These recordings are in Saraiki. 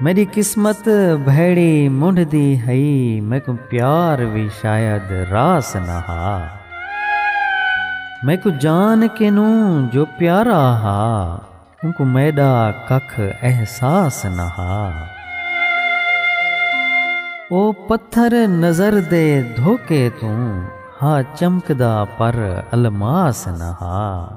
میݙی قسمت بھیڑی منڈھ دی ہئی میکوں پیار وی شاید راس نہ ہا میکوں جان کنوں جو پیارا ہا اونکوں میݙا ککھ احساس نہ ہا او پتھر نظر دے دھوکے توں ہا چمکدا پر الماس نہ ہا۔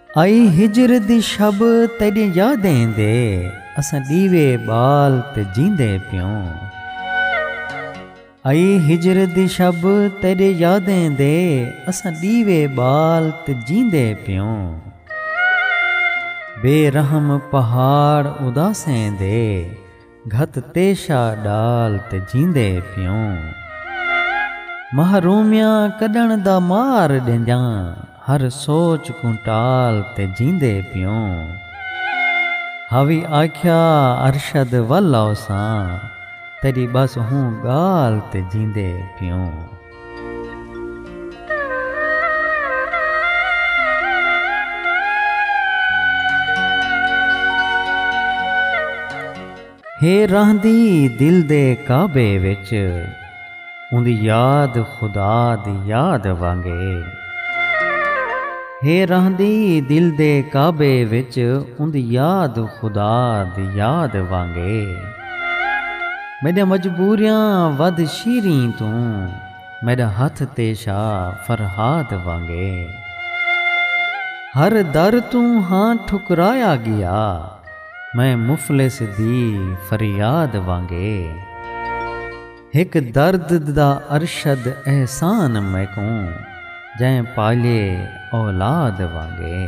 آئی ہجر دی شب تیݙیں یادیں دے اساں ݙیوے ٻال تے جیندے پیوں آئی ہجر دی شب تیݙیں یادیں دے اساں ݙیوے ٻال تے جیندے پیوں بے رحم پہاڑ اداسیں دے گھت تیشا ڈال تے جیندے پیوں۔ محرومیاں کڈھن دا مار ڈیندیاں ہر سوچ کوں ٹال تے جیندے پیوں۔ ہاوی آکھیا ارشد ول آوساں تیڈی بس ہوں گال تے جیندے پیوں۔ ہے رہندی دل دے کعبے وچ اوندی یاد خدا دی یاد وانگے ہے رہندی دل دے کعبے وچ اوندی یاد خدا دی یاد وانگے میݙیاں مجبوریاں ودھ شیریں توں میݙا ہتھ تیشا فرہاد وانگے ہر در توں ہاں ٹھکرایا ڳیا میں مفلس دی فریاد وانگے ہک درد دا ارشد احسان میکوں جئیں پالئے اولاد وانگے۔